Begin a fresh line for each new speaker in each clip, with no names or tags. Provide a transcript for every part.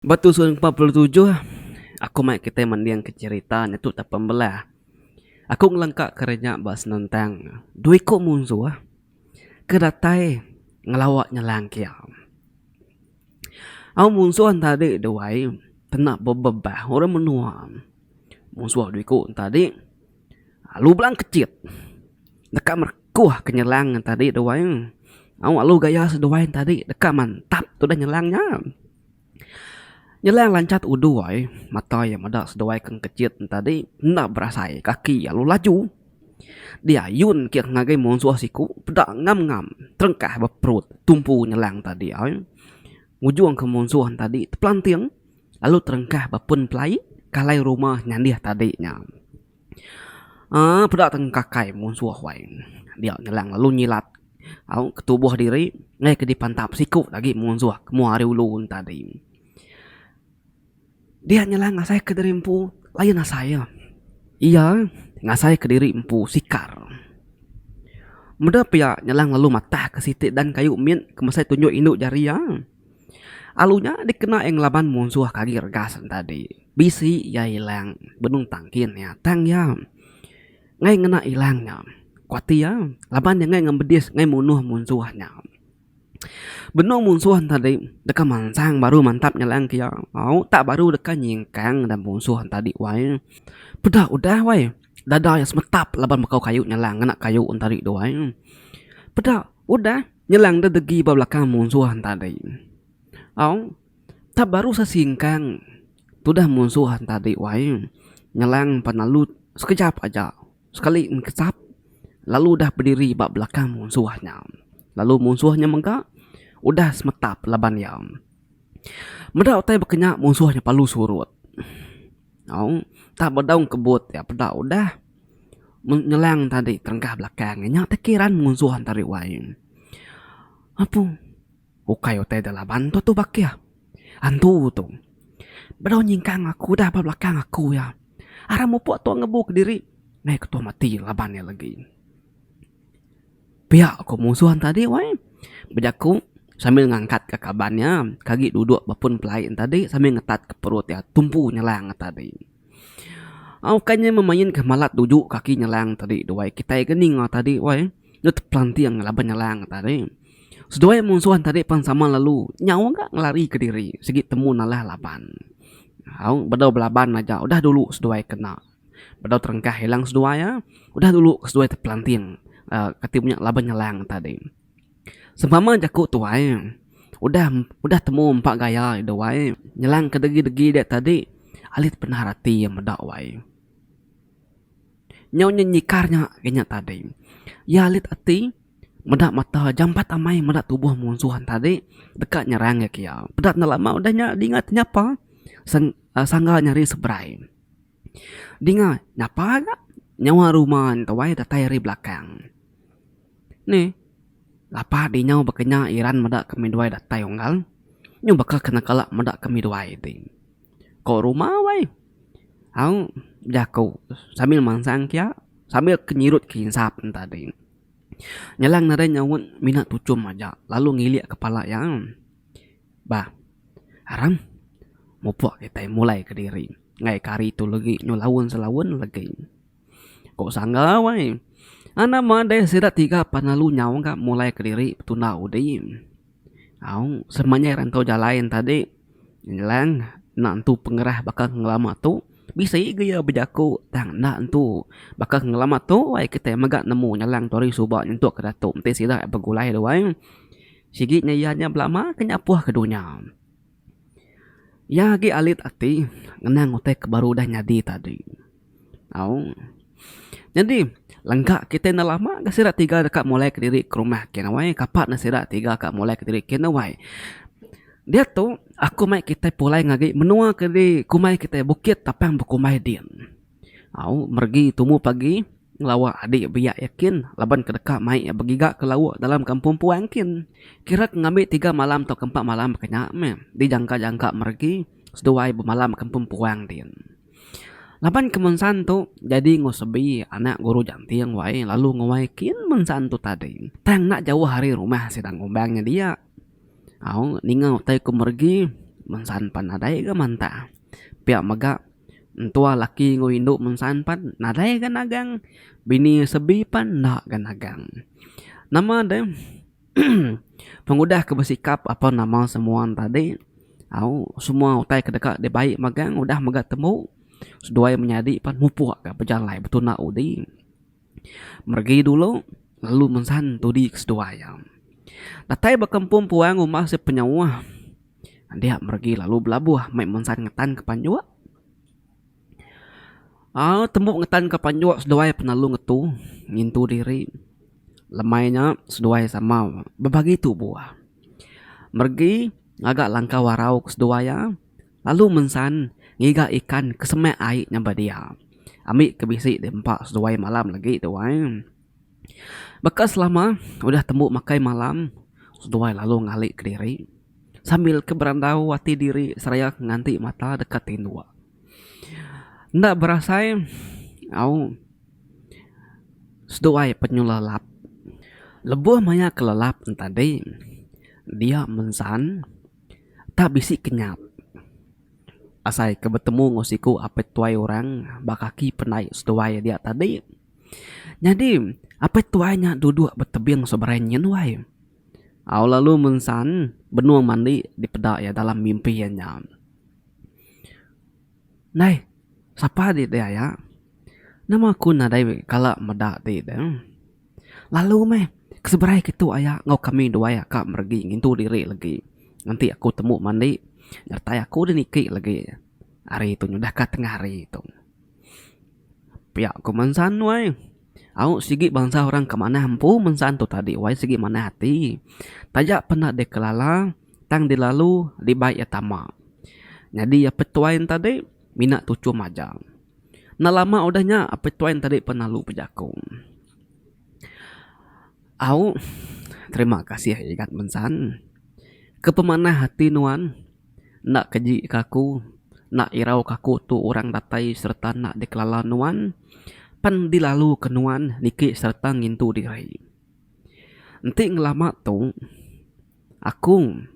Ba tusuk yang empat puluh tujuh, aku mai kitai mendingka cherita nya tu tau pembelah. Aku ngelengka kerja ba senentang dua iku munsuh ke datai ngelawa nyelang kia. Au munsuh enti tadi duai kena bebebah orang menua. Munsuh dua iku enti tadi alu bela kechit deka merekuh ke nyelang enti tadi duai. Au alu gaya seduai enti tadi deka mantap tudah nyelang nya. Nyelang lancat udu ai mata iya meda seduai ke kejit enti tadi enda berasai kaki iya lalu laju diayun kiye ngagai munsuh siku peda ngam ngam terengkah ba perut tumpu nyelang tadi ai ngujung ke munsuh tadi tepelanting lalu terengkah ba pun pelai kalai rumah nyandih tadi nya. Aa peda tang kakai munsuh wai dia nyelang lalu nyilat au ke tubuh diri meh ke dipantap siku agi munsuh meh ari ulu ngan tadi. Dia nyelang asai ke diri empu layan asai iya. Iya ngasai ke diri empu sikar. Meda pia nyelang lalu matah ke siti dan kayu min ke mesai tunjuk indu jari iya. Alu nya dikena iya ngelaban munsuh ke agi regas ne tadi. Bisi iya ilang benung tangkin iya tang iya ngai ngena ilang nya kuati iya laban iya ngai ngemedis ngai munuh munsuh nya. Benung munsuh ne tadi deka mansang baru mantap nyelang ke iya au tak baru deka nyingkang da munsuh ne tadi wai. Peda udah wai dada iya semetap laban bekau kayu nyelang ngena kayu ne tadi tu wai. Peda udah. Nyelang deh degi ba belakang munsuh enta adi. Au, tap baru sa singkang tudah munsuh enta adi wai. Nyelang pan lalu sekejap aja sekali ngesap lalu udah bediri ba belakang munsuh nya. Lalu munsuh nya mega udah semetap laban iya. Meda utai baka nya munsuh nya parlu surut. Au, tap bedau kebut iya peda udah. Ngelang tadi terengkah belakang nya tekiran munsuh antara wai apu ukai utai da laban tu tu ba keh antu tu bala nyingkang aku udah ba belakang aku iya aram mupok tok ngebu kediri meh ketuh mati laban iya legi pia ku munsuh nya tadi wai bejaku sambil ngangkat ka kaban iya ke agi dudok ba pun pelai nya tadi sambil ngetat ka perut iya tumpu nyelang nya tadi. Ukai nya memainka malat tuju kaki nyelang tadi tu ai. Kitai ke ninga tadi tu ai, deh tepelanting laban nyelang tadi. Seduai munsuh tadi pan sama lalu. Nya mega ngelarika diri sigi temu nalah laban. Au, bedau belaban aja udah dulu seduai kena. Bedau terengkah ilang seduai e, udah dulu seduai tepelanting uhh kati nya laban nyelang tadi. Sempama jaku tuai, udah udah temu empa gaya deh wai, nyelang ke degi-degi dia tadi alit penah ati iya meda wai. Nyau nya nyikar nya ke nya tadi. Iya alit ati meda mata jampat amai meda tubuh munsuh tadi deka nyerang iya ke iya. Peda enda lama udah nya dinga tenyapa sangga nyari seberai. Dinga, napa ga nyawa ruma entoi datai ari belakang. Ni, lapa di nyau baka nya Iran meda ke midwai datai unggal. Nyu baka ke nekala meda ke midwai ti. Ko ruma wai. Au jaku sambil mansang kia, sambil ke nyirut ke insap ne tadi. Nyalang nadai nyaunt mina tuchum aja lalu ngilik kepala iya. Bah. Aram. Mupok kitai mulai kediri ngaik ke hari tu legi nyu laun selaun legi. Ko sangga wai. Anak madai sida tiga pa lalu nyau ka mulai kediri betunda udi. Au semenyai rantau jalai enta di ngelang enda entu pengerah baka ngelama tu bisi ga iya bejaku tang enda entu baka ngelama tu wai kitai mega nemu ngelang tu hari suba nyentuk ke datu enti sida begulai duai. Sigi nya iya nya belama ke nyapuh ke dunya. Iya agi alit ati ngenang utai ke baru udah nyadi tadi. Au. Nyadi, lengka kitai enda lama ga sida tiga deka mulai kediri ke rumah kin awai. Kapa ne sida tiga ka mulai kediri kin awai. Diatu, aku mai kitai pulai ngagi menua ke diri kumbai kitai Bukit Tapang Bekumbai din. Au meregi tumu pagi ngelawa adi biak iya kin laban ke deka mai iya begiga ke lauk dalam kampung puang kin. Kira ke ngambi tiga malam tauka empat malam ke nya meh dijangka-jangka meregi seduai bemalam kampung puang din. Laban ke mun san tu jadi enggau sebi anak guru janting wai lalu nguai kin mun san tu tadi. Tang enda jauh ari rumah sida ngumbang nya dia. Au ninga utai ku meregi mun san pan nadai ga mantah pia mega. Entua laki enggau indu mensan pan nadai ga nagang. Bini sebi pan enda ga nagang. Nama deh pengudah ke besikap apan nama semua tadi au semua utai ke deka dibai megang udah mega tembu seduai menyadi pan mupuk ga bejalai betuna udi. Meregi dulu, lalu mensan tudi ke seduai iya. Datai bekempung puang rumah sik penyauh. Andik meregi lalu belabuh meh mensan ngetanka panjuk. Au tembu ngetanka panjuk seduai penelu ngetu ngintu diri. Lemai nya seduai sama bebagi tubuh. Meregi ngaga langkau arau ke seduai iya, Lalu mensan ngiga ikan ke semak ai nyampai dia. Ambi ke bisi di empa seduai malam lagi tu ai. Baka selama udah tembu makai malam seduai lalu ngalika diri sambil ke berandau ati diri seraya nganti mata deka tinduk. Enda berasai au seduai penyelelap. Lebuh maya kelelap tadi dia mensan. Tah bisi ke nyap. Asai ke betemu enggau siku apai tuai orang ba kaki pandai seduai dia tadi. Nyadi apai tuai nya duduk betebing seberai nyin wai. Au lalu mensan benung mandi dipeda iya dalam mimpi iya nya. Nai, sapa dih daya? Nama ku nadai kala meda ti deh. Lalu meh, ke seberai ke tu aya enggau kami dua aya ka meregi ngintu diri legi. Enti aku temu mandi, nyertai aku deh niki legi hari tu nyudah ka tengah hari tu. Pia ku mensan wei. Au sigi bansa orang ke manah empu mensan tu tadi wei sigi manah ati. Taja penda deh kelala tang dilalu dibai iya tama. Nyadi iya petuai enta deh mina tuchum aja. Enda lama udah nya Apai Toin tadi pan lalu bejako. Au, terima kasih igat mensan. Ke pemanah ati nuan enda keji ke aku, enda irau ke aku tu orang datai sereta enda dikelala nuan pan dilalu ke nuan niki sereta ngintu diri. Enti ngelama tu. Akung,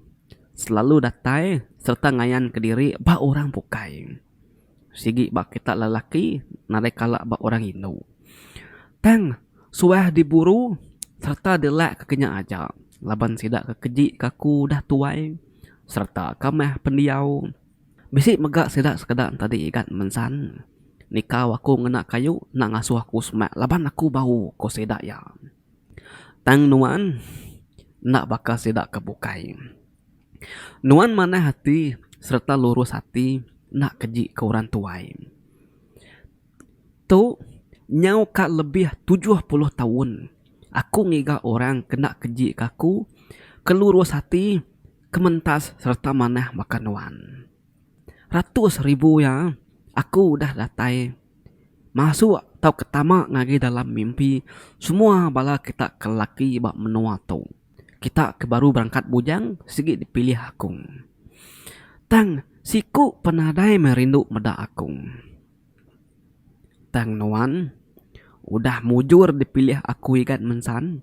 selalu datai sereta ngayanka diri ba orang bukai. Sigi ba kitak lelaki nadai kala ba orang indu. Tang suah diburu sereta dilak ke kinya aja laban sida ke keji ke aku udah tuai sereta kamah pendiau. Bisi mega sida sekeda entadi igat mensan nikau aku ngena kayu enda ngasuh aku semak laban aku bau, ku sida iya. Tang nuan enda baka sida ke bukai. Nuan manah ati sereta lurus ati enda keji ke orang tuai. Tu nyauka lebih tujuh puluh taun aku ngiga orang ke enda keji ke aku, ke lurus ati, ke mentas sereta manah baka nuan. ratus ribu iya aku udah datai masuk tauka tama ngagai dalam mimpi semua bala kita ke laki ba menua tu kita ke baru berangkat bujang sigi dipilih akung tang siku penadai meh rindu meda akung. Tang nuan udah mujur dipilih aku igat mensan.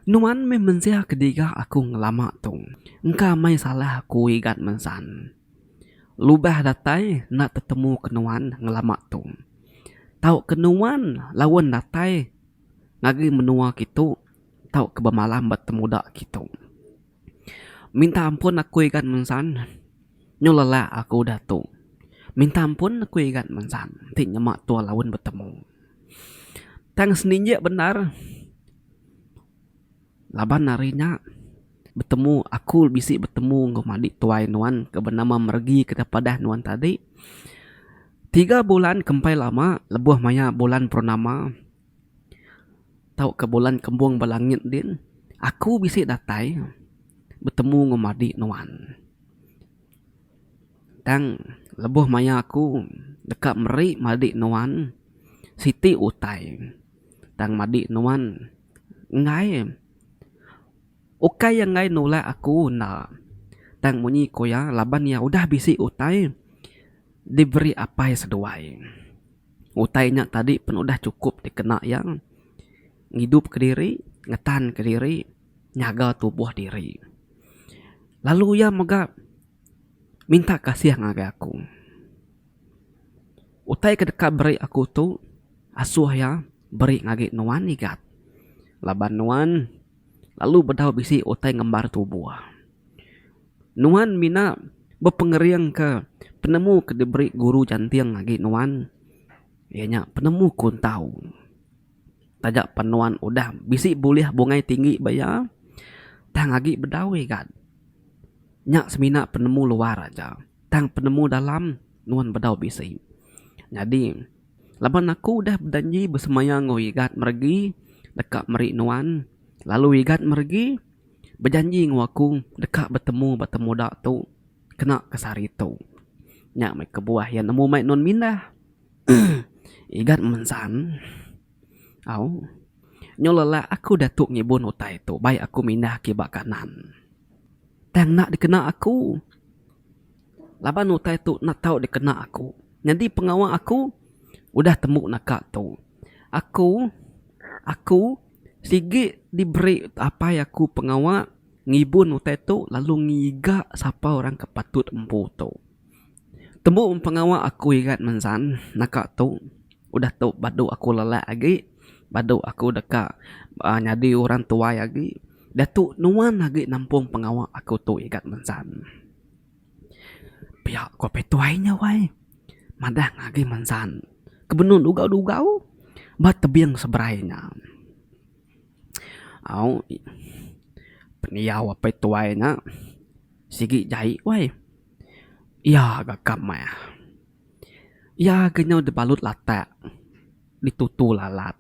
Nuan meh mensia ke diga aku ngelama tu. Engka meh salah aku igat mensan. Lubah datai enda tetemu ke nuan ngelama tu. Tau ke nuan laun datai ngagai menua kitu tau ke bemalam ba temuda kitu. Minta ampun aku igat mensan nyau lelak aku udah tu minta ampun aku igat mensan ti nyema tua laun betemu tang seninjek bendar laban hari nya betemu aku bisi betemu enggau madi tuai nuan ke benama meregi ke deh padah nuan tadi tiga bulan ke empai lama lebuh maya bulan purnama. tauka bulan kembung ba langit din aku bisi datai betemu enggau madi nuan. Tang lebuh maya aku deka meri madi nuan siti utai tang madi nuan enggai ukai iya enggai nulak aku enda tang munyi ku iya laban iya udah bisi utai. diberi apai seduai. Utai nya tadi pun udah chukup dikena iya ngidupka diri, ngetanka diri, nyaga tubuh diri. Lalu iya mega minta kasih ngagai aku. Utai ke deka beri aku tu asuh iya beri ngagai nuan igat laban nuan lalu bedau bisi utai ngembar tubuh. Nuan mina bepengeringka penemu ke diberi guru janting agi nuan, iya nya penemu kuntau. Taja pan nuan udah bisi bulih bungai tinggi ba iya, tang agi bedau igat. Nya semina penemu luar aja, tang penemu dalam nuan bedau bisi. Nyadi, laban aku udah bejanji besemaya enggau igat meregi deka meri nuan, lalu igat meregi. bejanji enggau aku deka betemu ba temuda tu kena ke sehari tu. Nya meh kebuah iya nemu mai nuan mindah. Igat mensan. Au. Nyau lelak aku diatu ngibun utai tu bai aku mindah ke ba kanan. Tang enda dikena aku. Laban utai tu enda tau dikena aku. Nyadi pengawa aku udah tembu naka tu. Aku, aku. Sigi diberi apai aku pengawa ngibun utai tu lalu ngiga sapa orang ke patut empu tu. Tembu pengawa aku irat mensan naka tu udah tu badu aku lelak agi badu aku deka nyadi orang tuai agi diatu nuan agi nampung pengawa aku tu igat mensan. Pia ko petuai nya wai madah ngagai mensan ke benung dugau dugau ba tebing seberai nya au pendiau apai tuai nya sigi jai wai iya ga ka meh iya ga nyau dibalut latak ditutu lalat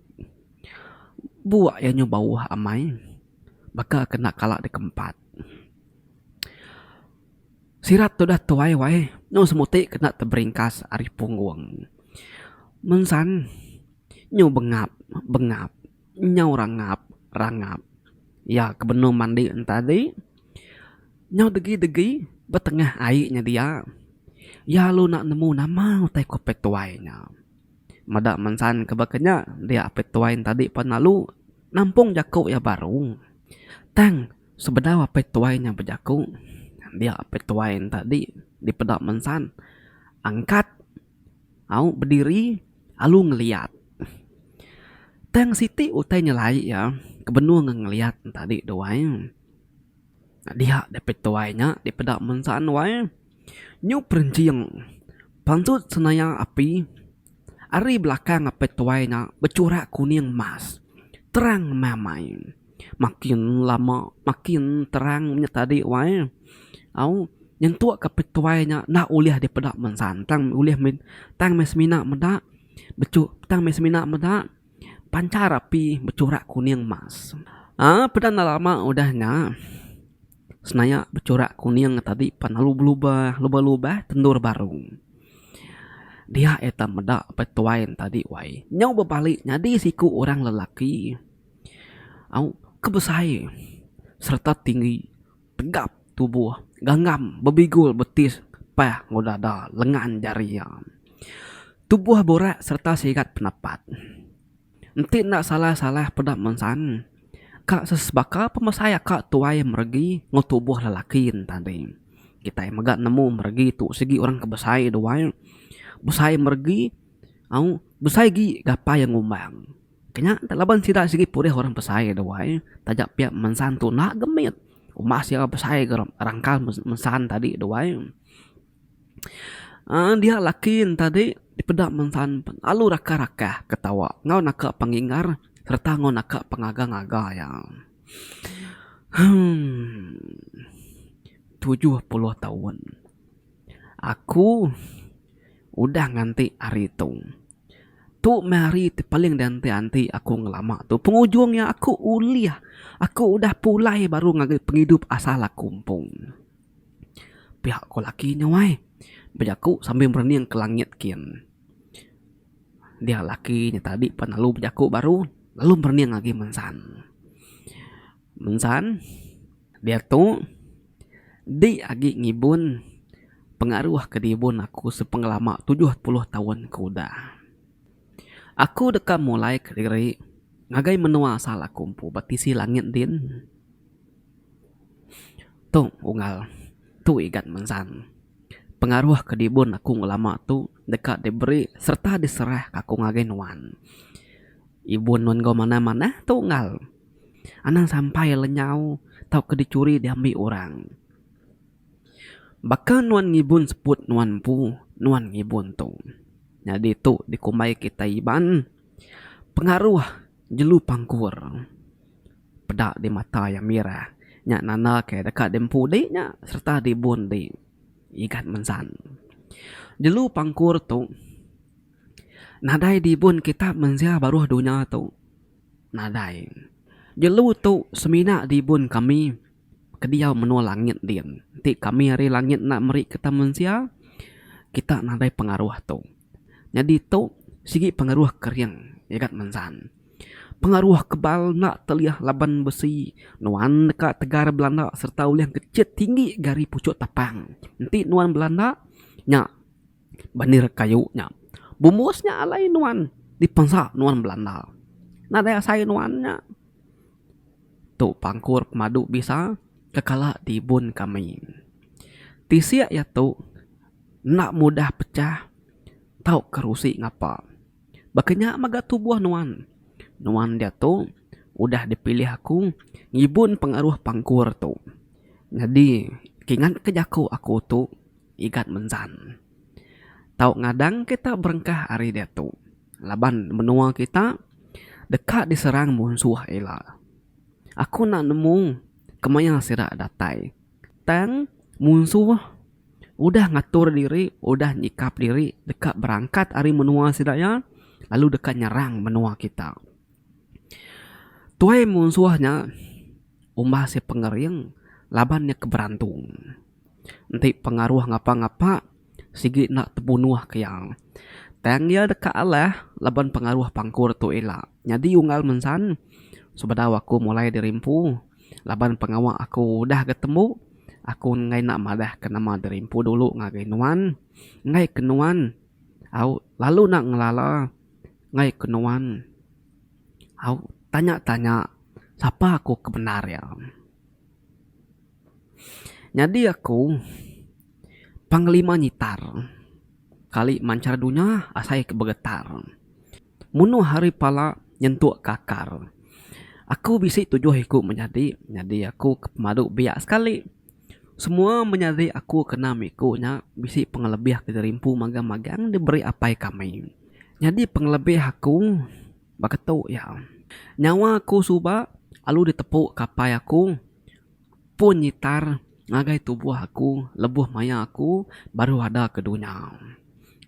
bua iya nyau bauh amai baka ke enda kala dikempat. Sirat tu udah tuai wai nyu semuti kena teberingkas ari punggung. Mensan nyu bengap bengap nyu rangap rangap ya ke benung mandi enta di nyu degi degi betengah ai nya dia ya lu enda nemu nama utai ku apai tuai nya. Meda mensan ke baka nya dia apai tuai enta di pan lalu nampung jaku iya baru tang. Sebedau apai tuai nya bejaku, dia apai tuai enta di dipeda mensan angkat au bediri alu ngeliat. Tang siti utai nyelai iya ke benung ngan ngeliat tadi tu ai. Dia deh apai tuai nya dipeda mensan wai, nyu perinjing pansut senaya api. Ari belakang apai tuai nya bechurak kuning emas. Terang meh-meh. Makin lama makin terang nya tadi wai. Au, nyentuk ke apai tuai nya enda ulih dipeda mensan. Tang ulih mih, tang mih semina meda, bechu, tang mih semina meda panchar api bechurak kuning emas. Aa, peda enda lama udah nya. Senaya becurak kuning tadi pan lalu belubah lebuh lubah tendur baru. Dia iya tan meda pai tuai ne tadi wai. Nyau bebali nyadi siku orang lelaki au ke besai sereta tinggi tegap tubuh gangam bebigul betis pah enggau dada lengan jari iya. Tubuh burak sereta sigat penapat. Enti enda salah-salah peda mensan, ka sesebaka pemesai aka tuai meregi enggau tubuh lelaki enta dih. Kitai mega nemu meregi tu sigi orang ke besai duai, besai meregi au besai agi gapa iya ngumbang. Ke nya enti laban sida sigi purih orang besai duai taja pia mensan tu enda gemit. Umbas iya besai ga rangkal mensan tadi duai. uhh dia laki ne tadi dipeda mengsan lalu rakah rakah ketawa enggau naka pengigar serta enggau naka pengaga ngaga iya uhh tujuh puluh taun aku udah nganti hari tu tu meh hari ti paling dianti anti aku ngelama tu pengujung iya aku ulih aku udah pulai baru ngagai pengidup asal aku empu. Pia ko laki nya wai bejaku sambil merening ke langit kin. Dia laki nya tadi pan lalu bejaku baru lalu merening agi mensan. Mensan diatu di agi ngibun pengaruh ke dibun aku sepengelama tujuh puluh taun ke udah. Aku deka mulai kediri ngagai menua asal aku empu ba tisi langit din. Tu Unggal. Tu Igat Mensan. Pengaruh ke dibun aku ngelama tu deka diberi sereta diserah ke aku ngagai nuan. Ibun nuan enggau manah-manah tu Unggal. Anang sampai lenyau tauka dicuri diambi orang. Baka nuan ngibun seput nuan empu, nuan ngibun tu. Nyadi tu dikumbai kitai Iban pengaruh jelu pangkur. Peda di mata iya mira nya nanda ke deka diempu di nya sereta dibun di igat mensan. Jelu pangkur tu nadai dibun kitak mensia baruh dunya tu. Nadai. Jelu tu semina dibun kami ke diau menua langit din. Enti kami ari langit enda meri kitak mensia, kitak nadai pengaruh tu. Nyadi tu sigi pengaruh kering nyagat mensan. Pengaruh kebal enda teliah laban besi nuan deka tegar belanda sereta ulih ngechit tinggi ga ari puchuk tapang. Enti nuan belanda nya banir kayu nya bumbus nya alai nuan dipensa nuan belanda. Nadai asai nuan nya. Tu pangkur pemadu bisa kekala tibun kami. Tisi iya tu. enda mudah pecah tau kerusi ngapa. Baka nya mega tubuh nuan. Nuan diatu udah dipilih aku ngibun pengaruh pangkur tu. Nyadi kingatka jaku aku tu igat menzan. Tau ngadang kita berengkah ari diatu laban menua kita deka diserang munsuh ila. Aku enda nemu kemaya sida datai. Tang munsuh udah ngatur diri, udah nyikap diri deka berangkat ari menua sida iya lalu deka nyerang menua kita. Tuai munsuh nya umbas iya pengering laban iya ke berantung. Enti pengaruh ngapa-ngapa sigi enda tebunuh ke iya. Tang iya deka alah laban pengaruh pangkur tu ila. Nyadi unggal mensan, sebedau aku mulai dirimpu laban pengawa aku udah ga tembu, aku enggai nak madah ke nama dirimpu dulu ngagai nuan. Enggai ke nuan au lalu nak ngelala enggai ke nuan au tanya-tanya sapa aku ke bendar iya. Nyadi aku panglima nyitar kali manchar dunya asai ke begetar. Munuh hari pala nyentuk ke akar. Aku bisi tujuh iku menyadi, nyadi aku ke pemadu biak sekali. Semua menyadi aku kena miku nya bisi pengelebih ke dirimpu magang-magang diberi apai kami. Nyadi pengelebih aku baka tu iya, nyawa aku suba alu ditepu ke apai aku. pun nyitar ngagai tubuh aku lebuh maya aku baru ada ke dunya.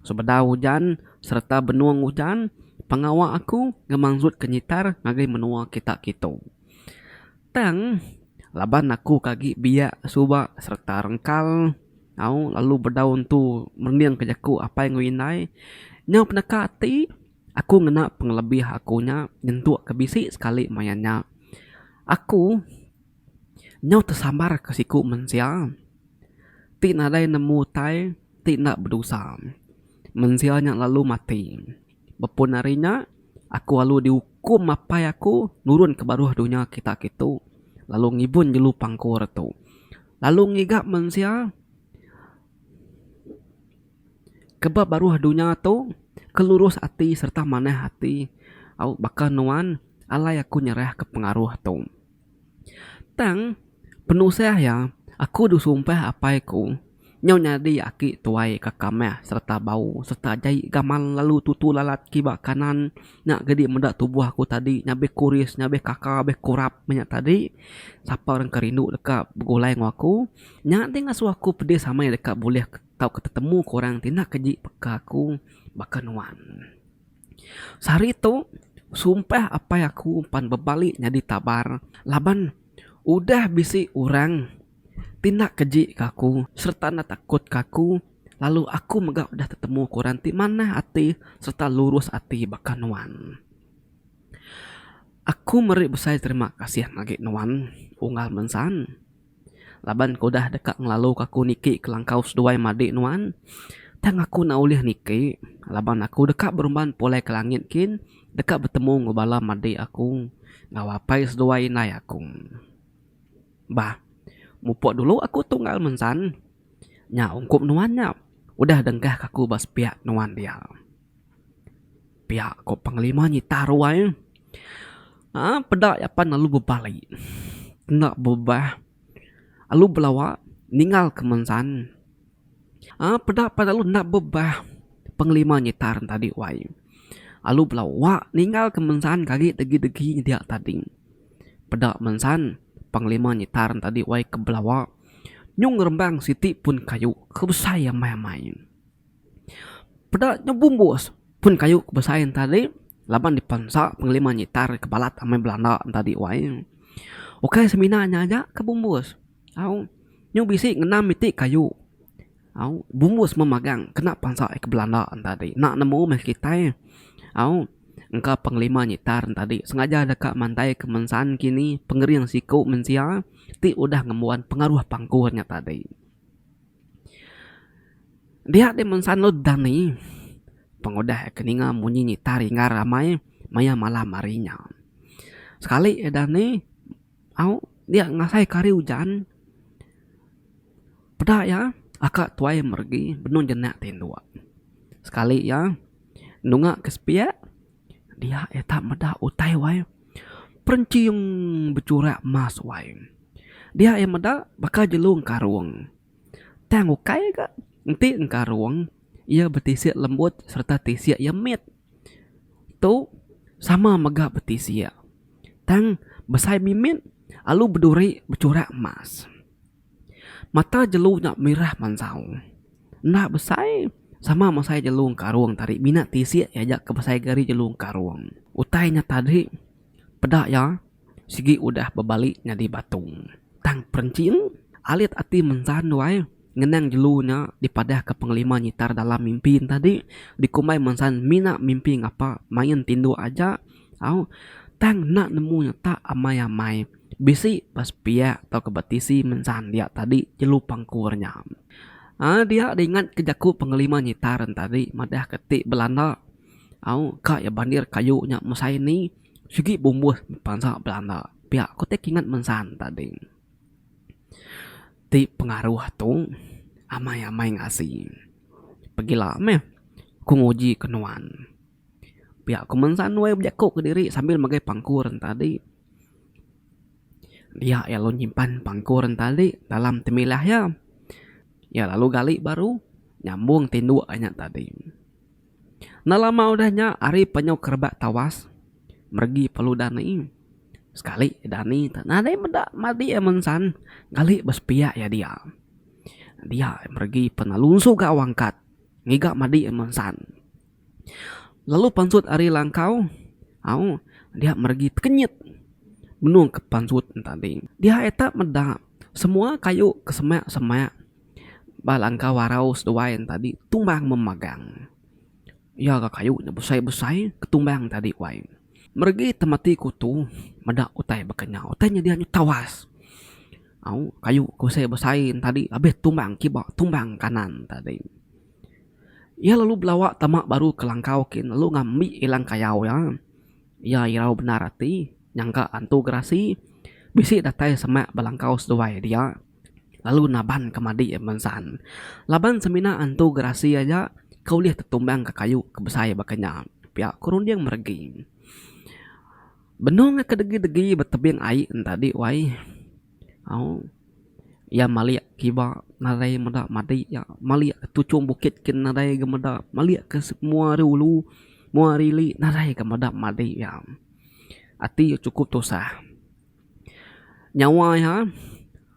Sebedau ujan sereta benung ujan, pengawa aku ngemansutke nyitar ngagai menua kita kitu. Tang laban aku ke agi biak suba sereta rengkal au lalu bedau entu merendingka jaku apai enggau indai nyau peneka ati. Aku ngena pengelebih aku nya nyentuk ke bisi sekali maya nya. Aku nyau tesambar ke siku mensia ti nadai nemu utai ti enda bedosa. Mensia nya lalu mati. Bepun ari nya, aku alu diukum apai aku nurun ke baruh dunya kita ke tu lalu ngibun jelu pangkur tu lalu ngiga mensia. Ke ba baruh dunya tu, ke lurus ati sereta manah ati au baka nuan alai aku nyerahka pengaruh tu. Tang penusah iya, aku disumpah apai ku nyau nyadi aki tuai ka kamah sereta bau sereta jai gamal lalu tutu lalat kiba kanan nya gedi meda tubuh aku tadi nyabih kuris nyabih kaka abih kurap meh nya tadi sapa rindu deka begulai enggau aku nya ti ngasuh aku pedis amai deka bulih. tauka tetemu ke orang ti enda keji peka aku baka nuan. Sehari tu, sumpah apai aku pan bebali nyadi tabar laban udah bisi orang ti enda keji ke aku sereta enda takut ke aku lalu aku mega udah tetemu ke orang ti manah ati sereta lurus ati baka nuan. Aku meri besai terima kasih agi nuan Unggal Mensan. Laban ke udah deka ngelaluka aku niki kelangkau seduai madik nuan, tang aku enda ulih niki laban aku deka berumban pulai ke langit kin deka betemu enggau bala madik aku enggau apai seduai indai aku. Bah, mupuk dulu aku tunggal mensan. Nya ungkup nuan nya udah denggahka aku ba sepiak nuan dia. Pia ko pengelima nyitar ruai uhh peda iya pan lalu bebali enda bebah lalu belawa ningal ke mensan uhh peda pan lalu enda bebah pengelima nyitar ne tadi wai lalu belawa ningal ke mensan kagi degi degi ne dia tadi peda mensan pengelima nyitar ne tadi wai ke belawa nyung rembang siti pun kayu ke besai amai amai. Peda nya bumbus pun kayu ke besai enta di laban dipensa pengelima nyitar ke balat amai belanda enta di wai. Ukai semina nya aja ke bumbus au nyu bisi ngenam iti kayu au bumbus meh magang kena pensa ai ke belanda enta di ena nemu meh kitai au engka pengelima nyitar enta di sengaja deka mandai ke mensan kini pengering siku mensia ti udah ngembuan pengaruh pangku nya tadi. Dia deh mun sanud dani pengudah ke ninga munyi nyita ringgar amai maya malam hari nya. Sekali eh dani au dia ngasai ke hari ujan peda iya aka tuai meregi benung jenak ti indu sekali iya nunga ke sepiak. Dia iya tak meda utai wai perenching bechurak emas wai. Dia iya meda baka jelu engkarung. Tang ukai ga enti engkarung iya betisik lembut sereta tisik iya mit. Tu sama mega betisik. Tang besai mimit lalu beduri bechurak emas. Mata jelu nya mirah mansau. Enda besai, sama mesai jelu engkarung tadi mina tisik iya aja ke besai ke ari jelu engkarung. Utai nya tadi peda iya sigi udah bebali nyadi batu. Tang perinching, alit ati mensan duai ngenang jelu nya dipadahka pengelima nyitar dalam mimpi ne tadi dikumbai mensan mina mimpi ngapa main tinduk aja. Au, tang enda nemu nya tak amai-amai. Bisi ba sepiak tauka ba tisi mensan dia tadi jelu pangkur nya. Ai dia diingatka jaku pengelima nyitar nya tadi madahka ti Belanda. Au, ka iya bandir kayu nya mesai ni sigi bumbuh bansa Belanda. Pia ku ti kingat mensan tadi. Ti pengaruh tu amai-amai ngasi. Pegila meh ku nguji ke nuan. Pia ku Mansan Nuai bejaku kediri sambil magai pangku rentali. Dia iya lalu nyimpan pangku rentali dalam temilah iya. Iya lalu gali baru nyambung tinduk inya tadi. Enda lama udah nya ari penyau ke rebak tawas meregi pelu dani. Sekali dani tu nadai meda madi iya Mansan gali ba sepiak iya dia. Dia meregi pelalu suga wangkat ngiga madi iya Mansan. Lalu pansut ari langkau au dia meregi tekenyit benung ke pansut tadi. Dia eta meda semua kayu ke semak semak ba langkau arau seduai tadi tumbang memagang. Iya ga kayu nya besai besai ke tumbang tadi wai. Meregi temati kutu meda utai baka nya. Utai nya dia nyu tawas au kayu ke besai besai tadi abih tumbang kiba tumbang kanan tadi. Iya lalu belawa tama baru ke langkau kin lalu ngambi ilang kayau iya. Iya irau bendar ati nyangka antu gerasi bisi datai semak ba langkau seduai dia lalu naban ke madi iya mensan. Laban semina antu gerasi aja ke ulih tetumbang ke kayu ke besai baka nya pia ku runding meregi. Benung ke degi degi betebing ai enta di wai. Au. Iya malik kiba nadai meda madi iya. Malik ke tuchung bukit kin nadai ga meda. Malik ke semua ari ulu, semua ari ili nadai ga meda madi iya. Ati iya chukup tusah. Nyawa iya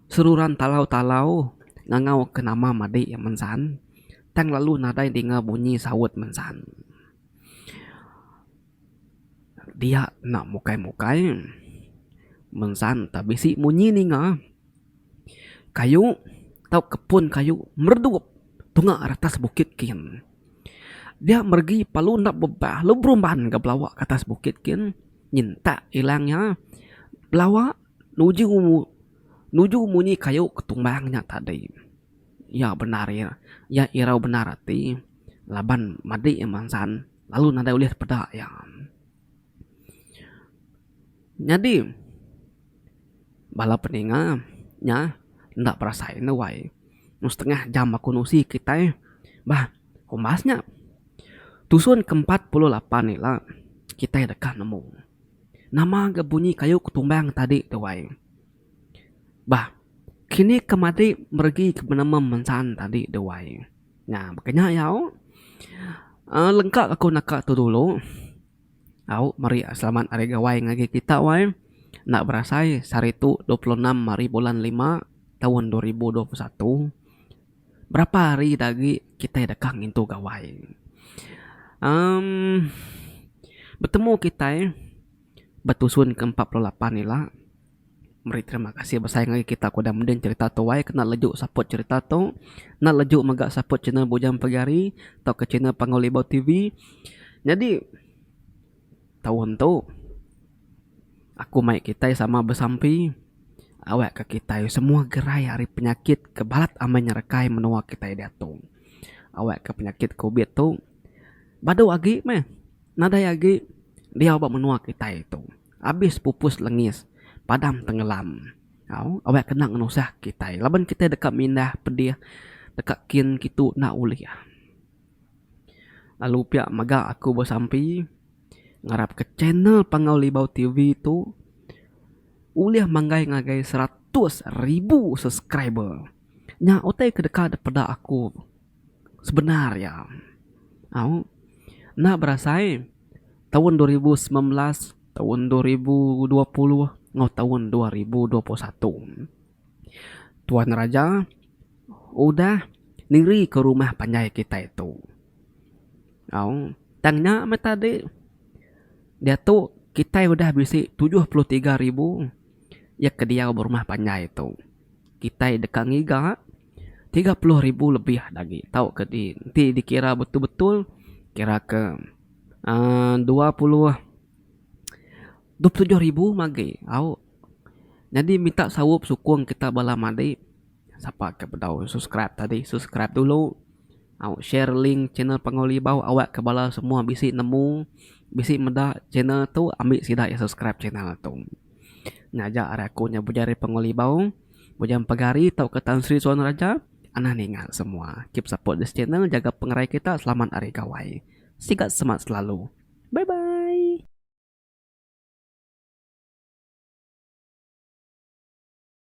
seruran talau-talau ngangau ke nama madi iya mensan. Tang lalu nadai dinga bunyi saut mensan. Dia enda mukai-mukai. Mensang tak bisi munyi ninga. Kayu tau kepun kayu meredup tunga retas bukit kin. Dia meregi palu enda bebah lalu berumban ga belawa ke atas bukit kin nyentak ilang iya belawa nuju nuju munyi kayu ke tumbang nya tadi. Iya bendar iya irau bendar ati laban madi iya mensang. lalu nadai ulih peda iya. Nyadi bala peninga nya enda berasai enda wai meh setengah jam aku nusi kitai bah umbas nya tusun ke empat puluh lapan ila kitai deka nemu nama ga bunyi kayu ketumbang tadi tu wai. Bah, kini ke madi meregi ke penemu mensan tadi deh wai. Nya baka nya yau uhh lengka aku naka tu dulu au meri selamat hari gawai ngagai kita wai enda berasai sehari tu dua puluh enam hari bulan lima taun dua ribu dua puluh satu. Berapa hari dak agi kita deka ngintu gawai. uhh betemu kitai betusun ke empat puluh lapan ila. Meri terima kasih besai ngagai kita ke udah mending cerita tu ai kena leju support cerita tu kena leju mega support channel Bujang Pegari tauka channel Panggau Libau TV nyadi taun tu aku mai kitai sama besampi awak ka kitai semua gerai ari penyakit ke balat amai nyerekai menua kitai diatu awak ka penyakit covid tu badu agi meh nadai agi diau ba menua kitai tu. Abis pupus lengis, padam tenggelam. Au, awak kena ngenusah kitai laban kitai deka mindah pedih deka kin kitu enda ulih. Lalu pia mega aku besampi ngarapka channel Panggau Libau TV tu ulih manggai ngagai seratus ribu subscriber. Nya utai ke deka dipeda aku. sebenar iya. Au enda berasai taun dua ribu semilan belas, taun dua ribu dua puluh enggau taun dua ribu dua puluh satu. Tuan Raja udah nirika rumah panjai kitai tu. Au tang nya meh tadi diatu kitai udah bisi tujuh puluh tiga ribu iya ke diau ba rumah panjai tu. Kitai deka ngiga. tiga puluh ribu lebih agi tau ke ti enti dikira betul-betul kira ke aaa dua puluh dua puluh tujuh ribu meh agi au nyadi minta saup sukung kita bala madi sapa ke bedau subscribe tadi subscribe dulu au share link channel Panggau Libau awak ke bala semua bisi nemu bisi meda channel tu ambi sida iya subscribe channel tu ngajak ari aku nya Bujari Panggau Libau. Mujang pagari tauka Tan Sri Suan Raja anah ninga semua keep support this channel jaga pengerai kita selamat ari gawai sigat semat selalu bye bye.